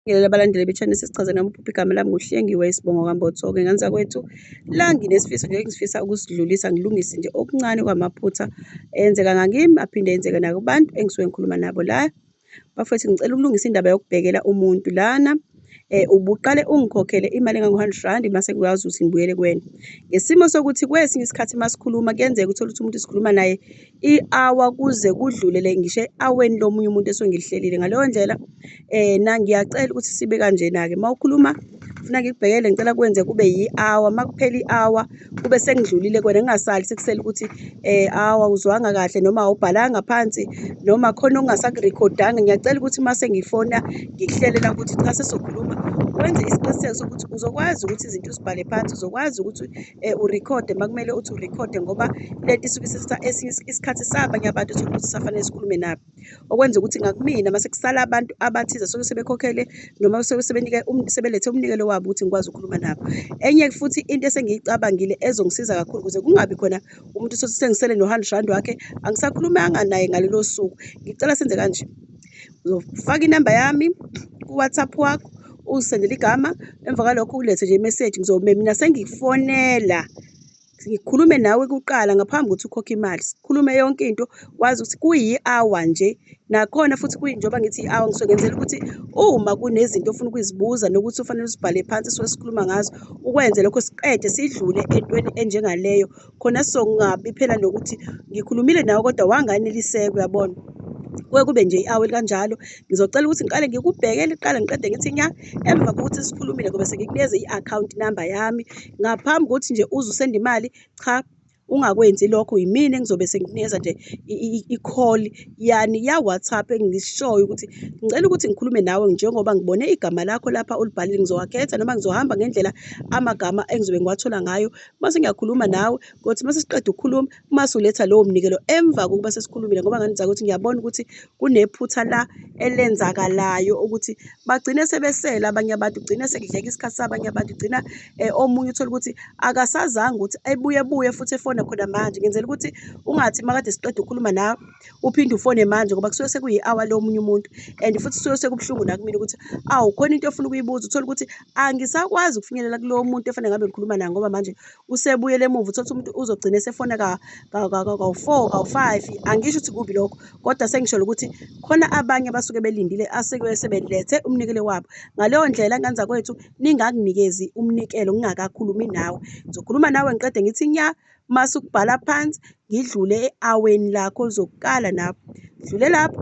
Ngibingelele abalandeli be-channel sesichaze nami uphupha igama lami nguhlengiwe isibongo kambotho-ke nganzakwethu la nginesifiso nje engifisa ukusidlulisa ngilungise nje okuncane kwamaphutha enzeka ngakimi aphinde enzeke nakubantu engisuke ngikhuluma nabo la bafethu ngicela ukulungisa indaba yokubhekela umuntu lana eh ubuqale ungikhokhele imali engango-hundred rand mase kuyazi ukuthi ngibuyele kuwena ngesimo sokuthi kwesinye isikhathi uma sikhuluma kuyenzeka uthole ukuthi umuntu sikhuluma naye i-hour kuze kudlulele ngisho e-aweni lomunye umuntu esuke ngilihlelile ngaleyo ndlela um na ngiyacela ukuthi sibe kanjena-ke uma ukhuluma funa ngikubhekele ngicela kwenze kube yi-hour uma kuphela i-hour kube sengidlulile kwena ngingasali sekusele ukuthi um awa uzwanga kahle noma awubhalanga phansi noma khona ongasakurekhodanga ngiyacela ukuthi uma sengifona ngikuhlelela ukuthi cha sesokhuluma wenze isiqiniseko sokuthi uzokwazi ukuthi izinto uzibhale phansi uzokwazi ukuthi um urekhode uma kumele uthi urekhode ngoba lento isuke isithatha esinye isikhathi sabanye abantu uthole ukuthi usafanele sikhulume nabo okwenza ukuthi ngakumina uma sekusala abantu abathize soke sebekhokhele noma soke sebenike um-, sebelethe umnikelo wabo ukuthi ngikwazi ukukhuluma nabo enye futhi into esengiyicabangile ezongisiza kakhulu ukuze kungabi khona umuntu usothi sengisele no-hundred rand wakhe angisakhulumanga naye ngalelo suku ngicela senze kanje uzofaka inamba yami ku-whatsapp wakho uzisendele igama emva kwalokho ulethe nje imeseji ngizome mina sengifonela ngikhulume nawe kuqala ngaphambi kokuthi ukhokhe imali sikhulume yonke into wazi ukuthi kuyi-hour nje nakhona futhi kuyinjengoba ngithi i-hour ngisuke ngenzela ukuthi uma kunezinto ofuna ukuzibuza nokuthi ufanele uzibhale phansi esuke sikhuluma ngazo ukwenze lokho siqede sidlule entweni enjengaleyo khona songabi phela nokuthi ngikhulumile nawe kodwa wanganeliseka uyabona kuke kube nje i-awe likanjalo ngizocela ukuthi ngiqale ngikubheke liqala ngiqede ngithi nya emva kokuthi sikhulumile ngobe sengikunikeze i-account number yami ngaphambi kokuthi nje uze usende imali cha ungakwenzi lokho yimina engizobe sengikunikeza nje i-call yani ya-whatsapp engishoyo ukuthi ngicela ukuthi ngikhulume nawe njengoba ngibone igama lakho lapha olibhalile ngizowakhetha noma ngizohamba ngendlela amagama engizobe ngiwathola ngayo mase ngiyakhuluma nawe kothi mase siqeda ukukhuluma mase uletha lowo mnikelo emva kokuba sesikhulumile ngoba nganidza ukuthi ngiyabona ukuthi kunephutha la elenzakalayo ukuthi bagcine sebesela abanye abantu gcine sekudleka isikhathi sabanye abantu gcina eh, omunye uthola ukuthi akasazanga ukuthi ebuye buye futhi efona khona manje ngenzela ukuthi ungathi makade siqeda ukukhuluma nawe uphinde ufone manje ngoba kusuke sekuyi-hour lomunye umuntu and futhi kusuke sekubuhlungu nakumina ukuthi awu khona into ofuna ukuyibuza uthole ukuthi angisakwazi ukufinyelela kulowo muntu efanele ngabe ngikhuluma naye ngoba manje usebuyele emuva uthole ukuthi umuntu uzogcina esefona kawu-four kawu-five angisho ukuthi kubi lokho kodwa sengisholo ukuthi khona abanye abasuke belindile asekuye sebelethe umnikelo wabo ngaleyo ndlela nganza kwethu ningakunikezi umnikelo ngingakakhulumi nawe ngizokhuluma nawe ngiqede ngithi nya Mase ukubhala phansi ngidlule e-aweni lakho uzokukala lapho dlule lapho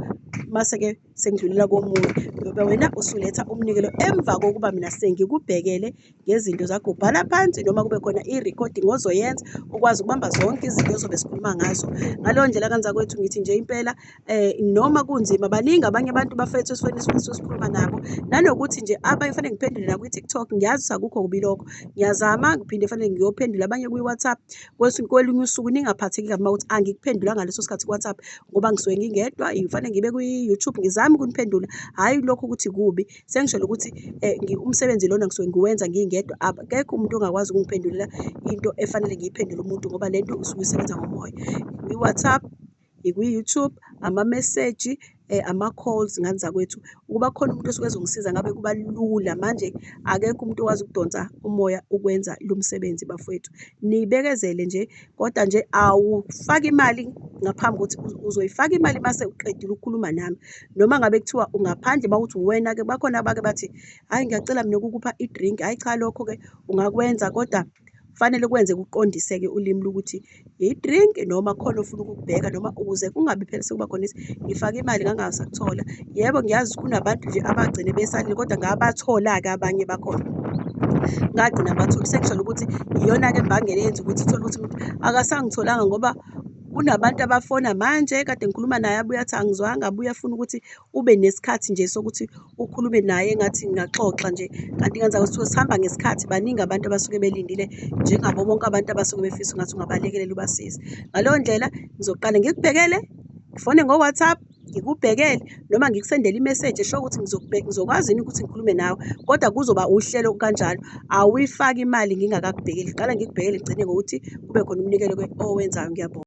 mase-ke sengidlulela komunye ngoba wena usuletha umnikelo emva kokuba mina sengikubhekele ngezinto zakho ubhala phansi noma kube khona i-recording ozoyenza ukwazi ukubamba zonke izinto ozobe sikhuluma ngazo ngaleyo ndlela kanzakwethu ngithi nje impela eh noma kunzima baningi abanye abantu bafethu esifweni esifisa sikhuluma nabo nanokuthi nje abanye fanele ngiphendule nakwi TikTok ngiyazi sakukho kubi lokho ngiyazama ngiphinde fanele ngiyophendula abanye kwi WhatsApp kwelinye usuku ningaphatheki kabi ukuthi angikuphendula ngaleso sikhathi ku WhatsApp ngoba ngisuke ngingedwa ngifanele ngibe kwi YouTube ngizame ukuniphendula hayi lokho ukuthi kubi sengishelo ukuthi eh, umsebenzi lona ngisuke ngiwenza ngingedwa akekho umuntu ongakwazi ukungiphendulela into efanele ngiyiphendule umuntu ngoba lento usuke isebenza ngomoya kwi WhatsApp ikwi-YouTube, amameseji, ama-calls ngani zakwethu. Ukuba khona umuntu osuke ezongisiza ngabe kuba lula. Manje akekho umuntu owazi ukudonsa umoya ukwenza lo msebenzi bafowethu. Nibekezele nje kodwa nje awufaki imali ngaphambi kokuthi uzoyifaka imali mase uqedile ukukhuluma nami. Noma ngabe kuthiwa ungaphandle uma kuthi uwena-ke bakhona abake bathi, hhayi ngiyacela mina ukukupha i-drink, hhayi cha lokho-ke ungakwenza kodwa. Kufanele kwenze kuqondiseke ulimi lukuthi yi-drink noma khona ofuna ukukubheka noma ukuze kungabi phela sekuba khona ithi ngifake imali ngangasakuthola. Yebo, ngiyazi kunabantu nje abagcine besalile kodwa ngabathola-ke abanye bakhona. Ngagcina ngibathole sekujwayele ukuthi iyona-ke imbangela eyenza ukuthi uthole ukuthi umuntu akasangitholanga ngoba kunabantu abafona manje kade ngikhuluma naye abuye athi angizwanga abuye afune ukuthi ube nesikhathi nje sokuthi ukhulume naye engathi ngingaxoxa nje kanti ngenzeka kusuke sihamba ngesikhathi baningi abantu abasuke belindile njengabo bonke abantu abasuke befisa ungathi ungabalekelela ubasize ngaleyo ndlela ngizoqale ngikubhekele ngifone ngo-whatsapp ngikubhekele noma ngikusendele imeseji esho ukuthi ngizokwazi yini ukuthi ngikhulume nawe kodwa kuzoba uhlelo kanjalo awuyifaki imali ngingakakubhekeli qala ngikubhekele ngigcine ngokuthi kube khona umnikelo owenzayo ngiyabonga